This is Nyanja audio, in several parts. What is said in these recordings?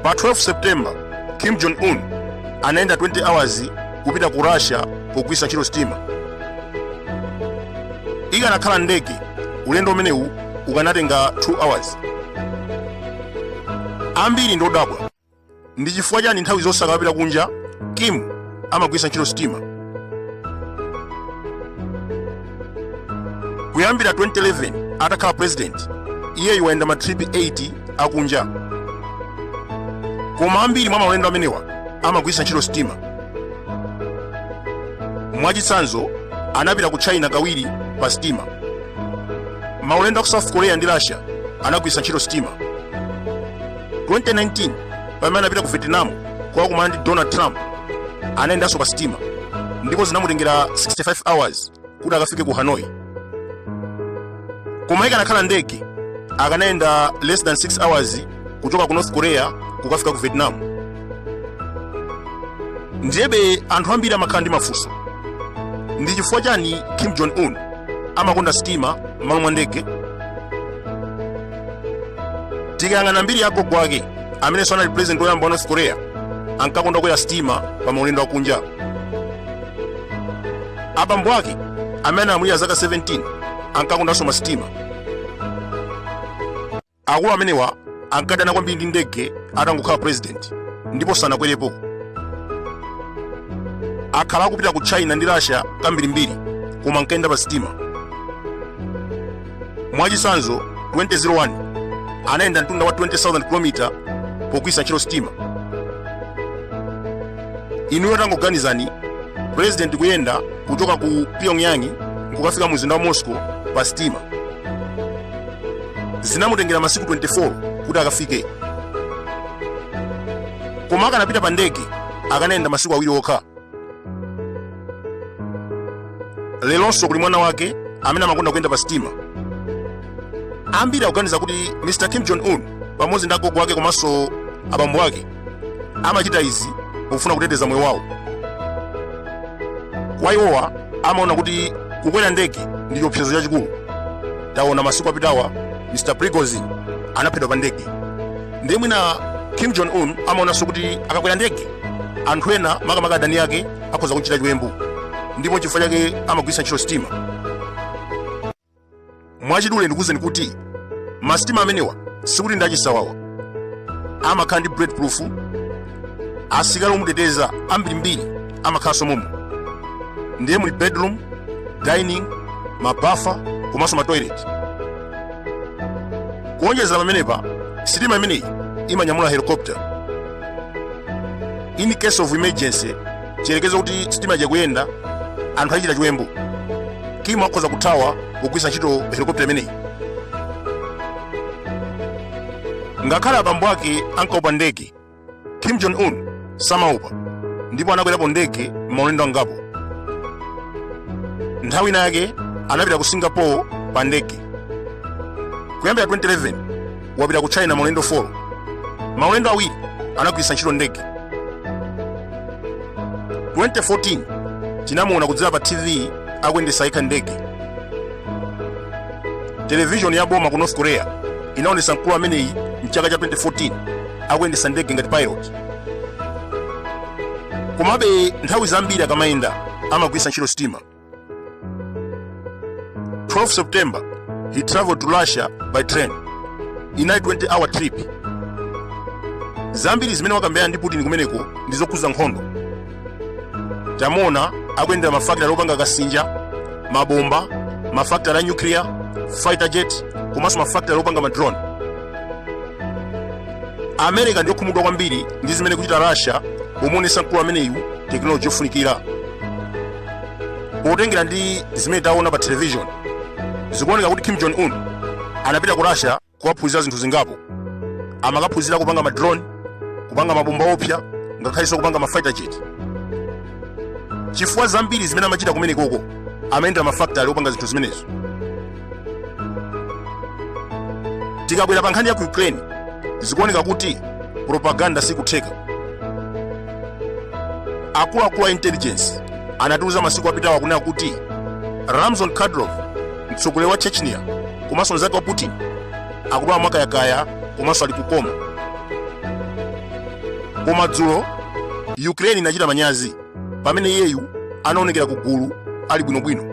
pa 12 september kim jong un anayenda 20 hours kupita ku russia pogwiritsa ntchito sitima ikanakhala ndege ulendo umenewu ukanatenga 2 hours ambiri ndodabwa ndi chifukwa chani nthawi zonse akapita kunja kim amagwiritsa ntchito sitima kuyambira 2011 atakhala president iyeyu wayenda matripi 8 akunja koma ambiri mwa maulendo amenewa amagwiritsa ntchito sitima mwachitsanzo anapita ku china kawiri pa sitima maulendo a ku south korea ndi russia anagwiritsa ntchito sitima 2019 pamene anapita ku vietnam kukakumana ndi donald trump anayendanso pa sitima ndipo zinamutengera 65 hours kuti akafike ku hanoi koma ikanakhala ndege akanayenda less than 6 hours kuchoka ku north korea kukafika ku vietnam ndiyebe anthu ambiri amakhala ndi mafunso ndi chifukwa chani kim jong un amakonda sitima m'malo mwa ndege tikayang'ana mbiri ya agogo ake amenenso anali president woyamba wa north korea ankakonda kukwera sitima pa maulendo akunja abambo ake amene analamulira zaka 17 ankakondanso masitima akulu amenewa ankadana kwambiri ndi ndege atangokhala president ndipo sanakwerepo akhala akupita ku china ndi russia kambirimbiri koma ankayenda pa sitima Mwachitsanzo, 2001 anayenda mtunda wa 20,000 km pogwiritsa ntchito sitima. Inuyo tangoganizani president kuyenda kuchoka ku Pyongyang nkukafika mu mzinda wa Moscow pa sitima. Zinamutengera masiku 24 kuti akafike, koma akanapita pa ndege akanayenda masiku awiri okha. lelonso kuli mwana wake amene amakonda kuyenda pa sitima ambiri akuganiza kuti mr kim jong un pamodzi ndi agogo ake komanso abambo ake amachita izi pofuna kuteteza moyo wawo kwa iwowa amaona kuti kukwera ndege ndi chiopsezo chachikulu taona masiku apitawa mr prigozhin anaphedwa pa ndege ndiye mwina kim jong un amaonanso kuti akakwera ndege anthu ena makamaka adani ake akhoza kumchita chiwembu ndipo chifukwa chake amagwiritsa ntchito sitima mwachidule ndikuwuzeni kuti masitima amenewa sikuti ndi achisawawa amakhala ndi bulletproof asikali omuteteza ambirimbiri amakhalanso momwemo ndiye muli bedroom dining mabafa komanso matoilet kuonjezera pamenepa sitima imeneyi imanyamula helicopter in case of emergency chiyerekeze kuti sitima ikuyenda anthu achita chiwembu kim akhoza kuthawa kugwiritsa ntchito helikopita imeneyi ngakhale abambo ake ankaopa ndege kim jong un samaopa ndipo anakwerapo ndege maulendo angapo nthawi ina yake anapita ku singapore pa ndege kuyambira 2011 wapita ku china maulendo 4 maulendo awiri anagwiritsa ntchito ndege 2014 tinamuona kudzera pa tv akuyendetsa yekha ndege televishoni ya boma ku north korea inaonesa mkulu ameneyi mchaka cha 2014 akuyendetsa ndege ngati pilot komabe nthawi zambiri akamayenda amagwiritsa ntchito sitima 12 September, he traveled to Russia by train inali 20 hour trip. Zambiri zimene wakambirana ndi Putin kumeneko ndi zokhudza nkhondo. Tamuona akuyendera mafakitale opanga kasinja, mabomba, mafakitale a nuclear, fighter jet, komanso mafakitale opanga madrone. America ndi yokhumudwa kwambiri ndi zimene ikuchita Russia pomuonesa mkulu ameneyu tekinoloji yofunikira. potengera ndi zimene taona pa television zikuoneka kuti kim jong un anapita ku russia kukaphunzira zinthu zingapo amakaphunzira kupanga ma drone kupanga mabomba oopsa ngakhalenso kupanga ma fighter jet chifukwa zambiri zimene amachita kumenekoko amayendera ma factory opanga zinthu zimenezo tikabwera pa nkhani ya ku ukraine zikuoneka kuti propaganda sikutha akuluakulu a intelligence anatiuza masiku apitawa kunena kuti ramzan kadyrov mtsogoleri wa chechnya komanso mzake wa putin akudwala mwakayakaya komanso ali ku coma koma dzulo ukraine inachita manyazi pamene iyeyu anaonekera ku gulu ali bwinobwino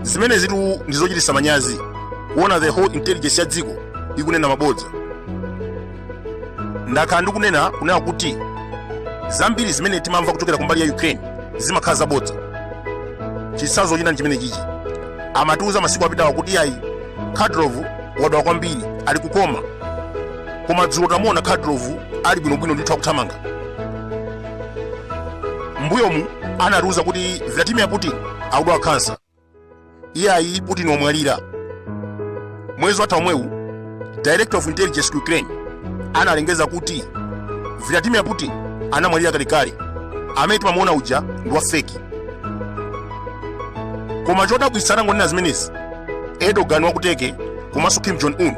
zimenezitu ndi zochititsa manyazi kuona the whole intelligence ya dziko ikunena mabodza ndakhala ndikunena kunena kuti zambiri zimene timamva kuchokera kumbali ya ukraine zimakhala zabodza chitsanzo china nchimene chichi amatiuza masiku apitawa kuti ayi kadyrov wadwala kwambiri ali ku coma koma dzulo tamuona kadyrov ali bwinobwino ndithu akuthamanga mbuyomu anatiuza kuti vladimir putin akudwala kansa iye ayi putin wamwalira mwezi watha omwewu director of intelligence ku ukraine analengeza kuti vladimir putin anamwalira kalekale amene timamuona uja ndi wa feki koma chodabwitsa atangonena zimenezi erdogan wa ku turkey komanso kim jong un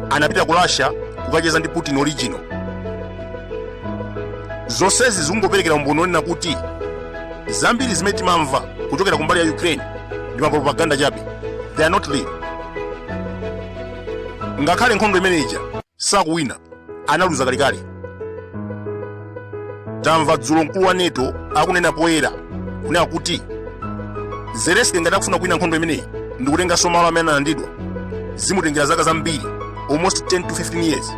anapita ku russia kukacheza ndi putin original zonsezi zikungoperekera umboni wonena kuti zambiri zimene timamva kuchokera kumbali ya ukraine ndi mapropaganda chabe they are not real ngakhale nkhondo imeneija sakuwina analuza kalekale tamva dzulo mkulu wa nato akunena poyera kunena kuti zelensky ngati akufuna kuwina nkhondo imeneyi ndikutenganso malo amene analandidwa zimutengera zaka zambiri almost 10 to 15 years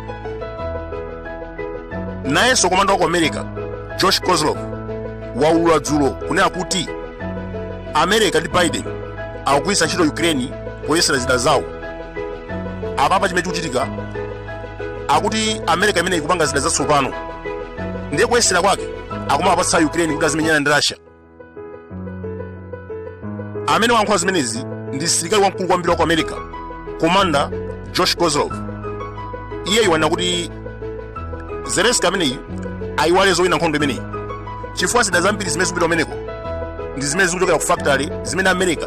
nayenso komanda wa ku america josh kozlov waulula dzulo kunena kuti america ndi biden akugwiritsa ntchito ukraine poyesera zida zawo apapa chimene chikuchitika akuti america imeneyi ikupanga zida zatsopano ndiye kuyesera kwake akumapatsa ukraine kuti azimenyana ndi russia amene wayankhula zimenezi ndi msilikali wamkulu kwambiri wa ku america komanda josh kozlov iye wanena kuti zelensky ameneyi ayiwale zowina nkhondo imeneyi chifukwa zida zambiri zimene zikupita kumeneko ndi zimene zikuchokera ku factory zimene america